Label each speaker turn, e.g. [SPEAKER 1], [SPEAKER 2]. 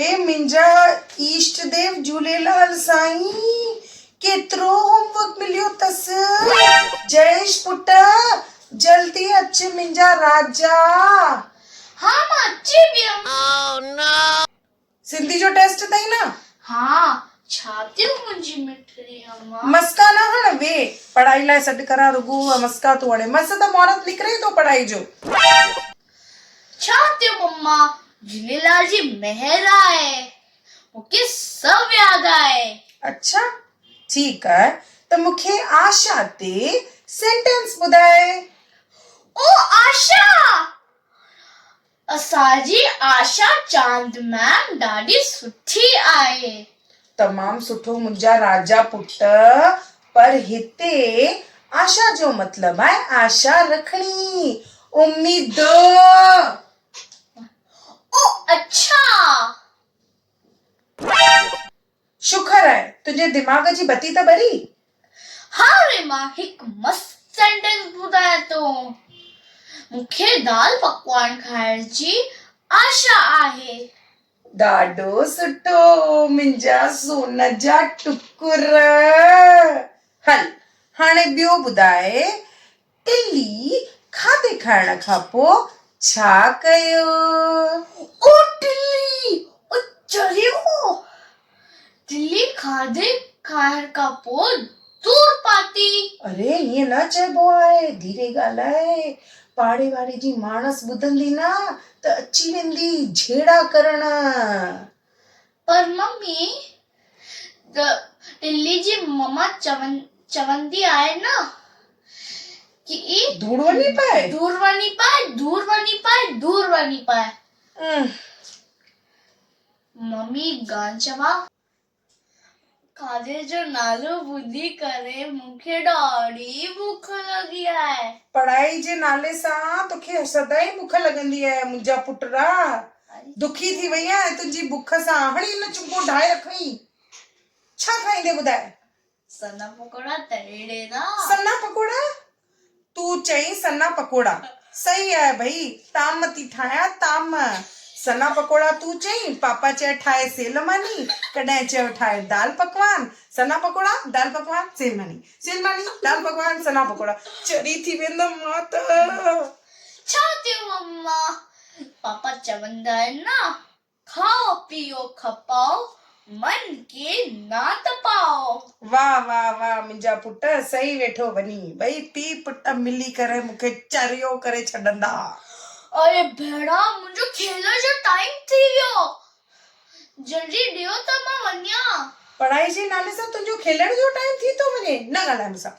[SPEAKER 1] اي منهنجا ايشٽ ديو جهوليلال سائين ڪيترو هوم ورڪ مليو تس. جئيش پٽ جلدي اچ منهنجا راجا.
[SPEAKER 2] ها مان اچي ويم. سنڌي
[SPEAKER 1] جو ٽيسٽ اٿئي نه. ها
[SPEAKER 2] ڇا ٿيو منهنجي مٺڙي اما. مسڪا نه هڻ وي
[SPEAKER 1] پڙهائي لاء سڏ ڪران رڳو مسڪا ٿو هڻي مس ته مهورت نڪري ٿو پڙهائي جو.
[SPEAKER 2] ڇا تي مما جھوليلال جي مهر آهي مون کي سڀ ياد آهي. اڇا
[SPEAKER 1] ٺيڪ آهي ته مون کي آشا تي سينٽينس ٻڌاء. او
[SPEAKER 2] آشا! اسان جي آشا چاند ميم ڏاڍي سٺي آهي. تمام
[SPEAKER 1] سٺو منهنجا راجا پٽ پر هتي آشا جو مطلب آهي آشا رکڻي اميد.
[SPEAKER 2] او اڇا.
[SPEAKER 1] شڪر آهي تنهنجي دماغ جي بتي ته ٻري. ها
[SPEAKER 2] ري مان هڪ مست سينٽينس ٻڌايان ٿو مون کي دال پڪوان کائڻ جي آشا آهي. ڏاڍو
[SPEAKER 1] سٺو منهنجا سون جا ٽڪر هل هاڻي ٻيو ٻڌاء ٽلي کاڌي کائڻ کان پو ڇا ڪيو.
[SPEAKER 2] او ٽلي! او چريو! دلي کاڌي کائڻ کان پوء دور پاتي. اري ائين نه
[SPEAKER 1] چئبو آهي ڌيري ڳالهاء پاڙي واري جي ماڻس ٻڌندي نه ته اچي ويندي جهيڙا ڪرڻ.
[SPEAKER 2] پر ممي دلي جي مما چوندي آهي نه ڪي دور وڃي
[SPEAKER 1] پاء دور وڃي پاء
[SPEAKER 2] دور وڃي پاء دور وڃي پاء. ممي گانچوا کاڌي جو نالو ٻڌي ڪري مون کي ڏاڍي بک لڳي آهي. پڙهائي جي نالي
[SPEAKER 1] سان توکي سدائين بک لڳندي آهي منهنجا پٽرا دکي ٿي وئي آهين تنهنجي بک سان هڻي هن چنگو ڊاهي رکئين ڇا کائيندي ٻڌاء. سنا
[SPEAKER 2] پڪوڙا ته اهڙي نا. سنا پڪوڙا؟
[SPEAKER 1] تون چئين سنا پڪوڙا. صحيح آهي ڀئي، تام ٿي ٺاهيان تام. سنا پڪوڙا تون چئين، پاپا چئي ٺاهي سيل ماني، ڪڏهن چيو ٺاهي دال پڪوان، سنا پڪوڙا، دال پڪوان، سيل ماني، سيل ماني، دال پڪوان، سنا پڪوڙا، چري ٿي ويندم مان ته. ڇا
[SPEAKER 2] ٿيو مما، پاپا چوندا آهن نا. کائو پيئو کپائو، من کي نه تپائو. واه واه
[SPEAKER 1] واه منهنجا پٽ سهي ويٺو وڃي. ٻئي پيء پٽ ملي ڪري مون کي چريو ڪري ڇڏندا. اڙي
[SPEAKER 2] ڀيڻا منهنجو کيل جو ٽائيم ٿي ويو. جلدي ڏيو ته مان وڃان. پڙهائي جي نالي
[SPEAKER 1] سان تنهنجو کيلڻ جو ٽائيم ٿي ٿو وڃي. نه ڳالهاء مون سان.